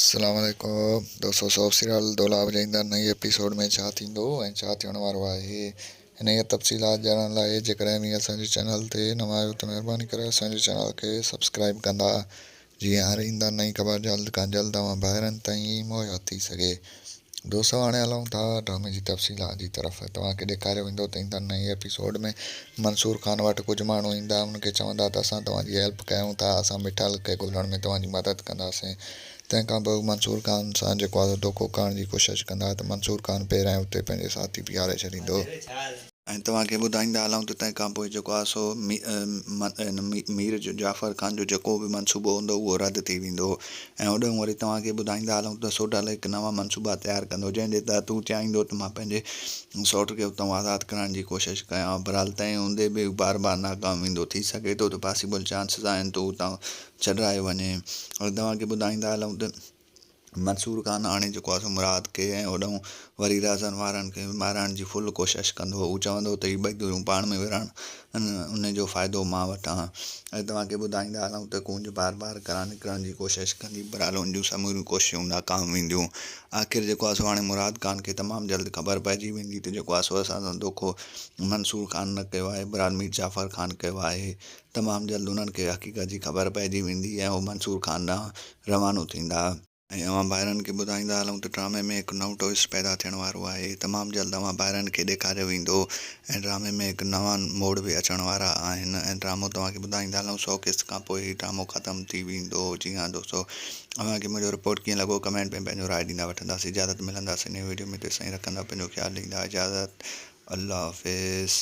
السلام عليڪم دوستو سوف سيريل دولاب جي ايندڙ نئين ايپيسوڊ ۾ ڇا ٿيندو ۽ ڇا ٿيڻ وارو آهي انهيء تفصيلات ڄاڻڻ لاء جيڪڏهن اوهين اسان جي چينل تي نوان آهيو ته مهرباني ڪري اسان جي چينل کي سبسڪرائيب ڪندا جيئن هر ايندڙ نئين خبر جلد کان جلد اوهان ڀائرن تائين مهيا ٿي سگهي. دوستو هاڻي هلون ٿا ڊرامي جي تفصيلات جي طرف. توهان کي ڏيکاريو ويندو ته ايندڙ نئين ايپيسوڊ ۾ منصور خان وٽ ڪجهه ماڻهو ايندا انهن کي چوندا ته اسان توهان جي هيلپ ڪيون ٿا اسان مٺل کي ڳولڻ ۾ توهان جي مدد ڪنداسين تنهن کان پوء هو منصور خان سان جيڪو آسو ڌوڪو ڪرڻ جي ڪوشش ڪندا ته منصور خان پهريائين اتي پنهنجي ساٿي بيهاري ڇڏيندو. ۽ توهان کي ٻڌائيندا هلون ته تنهن کان پوء جيڪو آهي سو مير جعفر خان جو جيڪو به منصوبو هوندو اهو رد ٿي ويندو ۽ هوڏنهن وري توهان کي ٻڌائيندا هلون ته سوڍل هڪ نوان منصوبا تيار ڪندو جنهن جي تحت هو چاهيندو ته مان پنهنجي سوٽ کي اتان آزاد ڪرائڻ جي ڪوشش ڪيان برحال تنهن هوندي به هو بار بار ناڪام ويندو ٿي سگهي ٿو ته پاسيبل چانسز آهن ته هو اتان ڇڏرايو وڃي ۽ توهان کي ٻڌائيندا هلون ته منصور خان آڻي چڪو آهي سو مراد کي ۽ هوڏانهن وري رازن وارن کي به مارائڻ جي فل ڪوشش ڪندو هو. هو چوندو هو ته هي ٻئي ڌريون پاڻ ۾ وڙهن ۽ ان جو فائدو مان وٺان. اڄ توهان کي ٻڌائيندا هلون ته ڪونج بار بار گهران نڪرڻ جي ڪوشش ڪندي برحال ان جون سموريون ڪوششون ناڪام وينديون. آخر جيڪو آهي سو هاڻي مراد خان کي تمام جلد خبر پئجي ويندي ته جيڪو آهي سو اسان سان دوکو منصور خان نه ڪيو آهي برحال مير جعفر خان ڪيو آهي. تمام جلد انهن کي حقيقت جي خبر پئجي ويندي ۽ هو منصور خان ڏانهن روانو ٿيندا. ۽ اوهان ڀائرن کي ٻڌائيندا هلون ته ڊرامي ۾ هڪ نئون ٽوئسٽ پيدا ٿيڻ وارو آهي. تمام جلد اوهان ڀائرن کي ڏيکاريو ويندو ۽ ڊرامي ۾ هڪ نوان موڙ به اچڻ وارا آهن ۽ ڊرامو توهان کي ٻڌائيندا هلون سؤ قسط کان پوء هي ڊرامو ختم ٿي ويندو. جي ها دوستو اوهان کي منهنجو رپورٽ ڪيئن لڳو ڪمينٽ ۾ پنهنجو راء ڏيندا وٺنداسين اجازت ملنداسين نئين ويڊيو ۾ تيسين رکندا پنهنجو خيال ڏيندا اجازت الله حافظ.